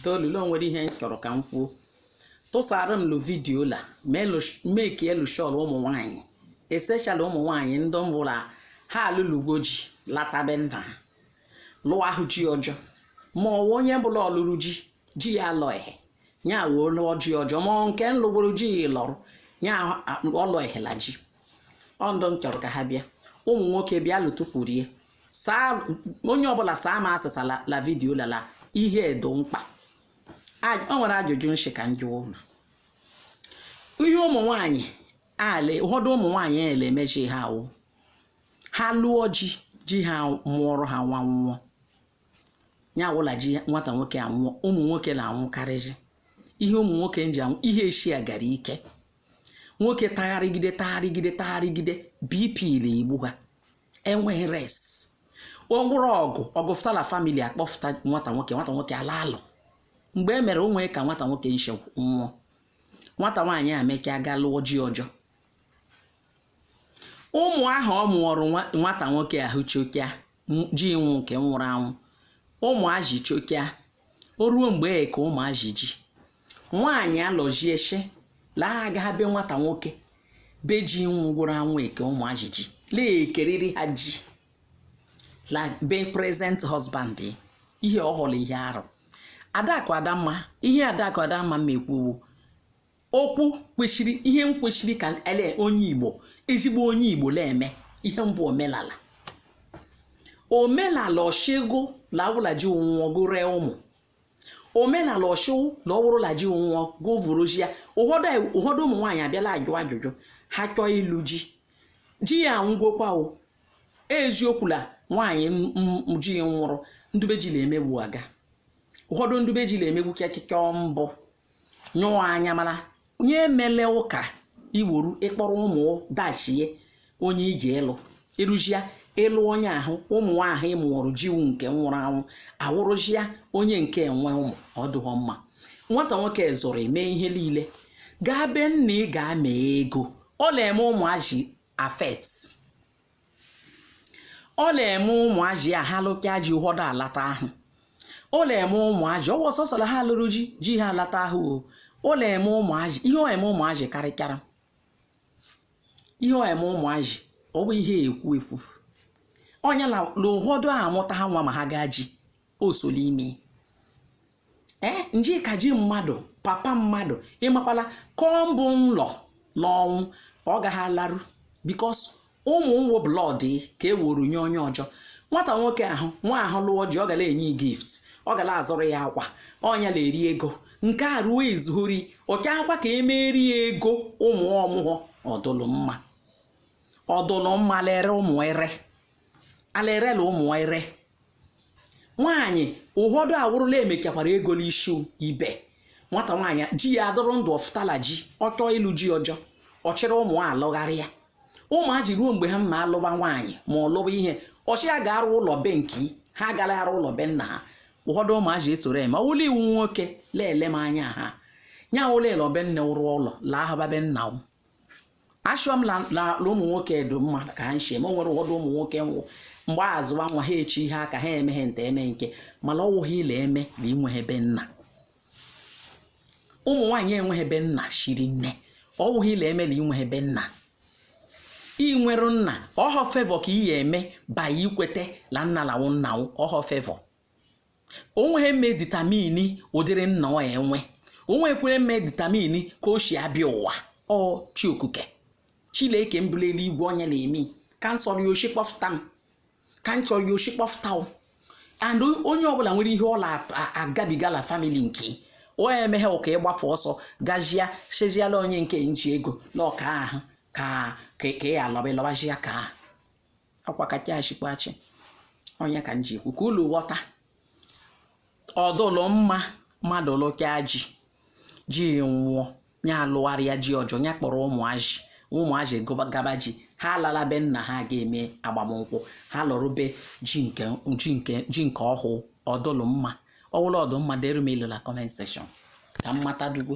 toolu lo nwere ihe m chọrọ ka m kwuo tụsara m lu video la meki elu shọl ụmụ nwaanyị especially ụmụ nwaanyị ndị bụ la ha alụlugo ji lata be nna ha lụọ ahụ ji ọjọ ma ọ wụ onye bụ la ọ lụrụ ji ji ya lọ ehe ya wee lụọ ji ọjọ ma nke nlụgoro ji ya lọrụ ya ọlọ ehela ji ọ ndụ m chọrọ ka ha bịa ụmụ nwoke bịa lụtụkwurie saa onye ọbụla saa m asịsa la video la la ihe dụ mkpa o nwere ajụjụ m shị ka m jụ ụlọ ihe ụmụ nwaanyị ala ụfọdụ ụmụ nwaanyị ele emechi ha awụ ha lụọ ji ji ha mụọrọ ha nwa nwụọ ya wụ la ji nwata nwoke anwụọ ụmụ nwoke na-anwụkarịzi ihe ụmụ nwoke nji anwụ ihe eshi agara ike nwoke tagharịgide tagharịgide tagharịgide BP na igbu ha enweghị rest ọ wụrụ ọgụ ọgụ fụta la family akpọfụta nwata nwoke nwata nwoke ala alụ mgbe e mere o nwe ka nwata nwoke nche nwụọ nwata nwaanyị a mekaa gaa lụọ ji ọjọ ụmụ ahụ ọ mụọrọ nwata nwoke ahụ chokia ji wụ nke nwụrụ anwụ ụmụazị chokia o ruo mgbe e ka ụmụazị ji nwaanyị alọjie she la-aga be nwata nwoke be ji wụ nwụrụ anwụ eke ụmụazị ji la-ekeriri ha ji la be present husband ihe ọ hụrụ ihe arụ adakụ adamma ihe adakụ adamma ma ekwuwo okwu kwesịrị ihe m kwesịrị ka ele onye Igbo ezigbo onye Igbo na-eme ihe mbụ omenala omenala ọ shị gụ na ọ wụ la ji nwụọ gụ ree ụmụ omenala ọ shị wụ na ọ wụrụ la ji nwụọ gụvụrụjia ụfọdụ ụmụ nwaanyị abịala ajụ ajụjụ ha chọọ ịlụ ji ji ya nwụgokwa o eziokwu na nwaanyị ji nwụrụ ndụ be ji na-emegbu aga ụfọdụ ndụ be ji na-emegbu kịakịka mbụ nyụọ anya mana onye emele ụka iworu ị kpọrọ ụmụ dachie onye i ji ịlụ ịrụjia ịlụ onye ahụ ụmụ ahụ ị mụọrụ ji wụ nke nwụrụ anwụ awụrụjia onye nke enwe ụmụ ọ dụghọ mma nwata nwoke zụrụ mee ihe niile gaa be nna ị gaa mee ego ọ na-eme ụmụ ajị affect ọ na-eme ụmụajị ya ha lụkaa ji ụfọdụ alata ahụ ọ na-eme ụmụajị ọ bụ sọsọ la ha lụrụ ji ji ha alata ahụ o ọ na-eme ụmụajị ihe ọ eme ụmụajị karịchara ihe ọ eme ụmụajị ọ bụ ihe ekwu ekwu ọnya la ụfọdụ amụta ha nwa ma ha gaa ji o so l'ime ee njika ji mmadụ papa mmadụ ịmakwala kọmbụ nlọ n'ọnwụ ọ gaghị alarụ because ụmụ nwo blood ka e weru nye onye ọjọ nwata nwoke ahụ nwa ahụ lụọ ji ọ ga-la enye gift ọ ga-la azụrụ ya akwa ọ nya na-eri ego nke a ruo izuhori ọcha akwa ka emeri ya ego ụmụ ọ mụghọ ọ dụlụ mma ọ dụlụ mma lere ụmụ ere alerela ụmụ ere nwaanyị ụfọdụ ọ wụrụ la e mechakwara ego n'isi ibe nwata nwaanyị ji ya adụrọ ndụ ọ fụta la ji ọ chọọ ịlụ ji ọjọ ọ chịrị ụmụ alụgharịa ụmụaji ruo mgbe ha mma alụba nwaanyị ma ọ lụba ihe ọchị ya ga-arụ ụlọ be nke ha gara arụ ụlọ be nna ha ụfọdụ ụmụazị esoro eme ọ wụ la ị wụ nwoke leele m anya ha nya ụlọ ele be nne wụrụ ụlọ laa haba be nna m ashọ m la ụmụ nwoke dụ mma ka ha nshi eme ma o nwere ụfọdụ ụmụ nwoke nwụ mgbe a zụwa nwa ha echi ihe aka ha emeghe nta eme nke mana ọ wụghị ị la-eme na i nweghị be nna ụmụ nwaanyị enweghị be nna shiri nne ọ wụghị ị la-eme na i nweghị be nna i nwere nna ọhọ favour ka ị ya eme ba i kwete na nna la-awụ nna ọhọ favour o nweghị mme determine ụdịrị nna ọ enwe o nwekwere mme determine ka o si abịa ụwa ọ chi okike chileke bu la eluigwe onye na-eme ka m sọrọ ya o shi kpọfụta m ka m sọrọ ya o shi kpọfụta m and onye ọbụla nwere ihe ọ na-agabiga na family nke o emeghe ụka ịgbafe ọsọ gajia cheziala onye nke nji ego na ọka ahụ ka ka ị alọba ịlọbazia ka ahụ ọ kwa kacha achịkwa achị ọ nya ka m ji ekwu ka ulu ghọta ọ dụlụ mma mmadụ lụka ji ji nwụọ ya alụgharịa ji ọjọ ya kpọrọ ụmụaji ụmụaji gaba ji ha alala be nna ha ga-eme agbamnkwụ ha lụrụ be ji nke ọhụụ ọ dụlụ mma ọ wụ la ọ dụ mma dere m ilu na comment section ka m mata dugo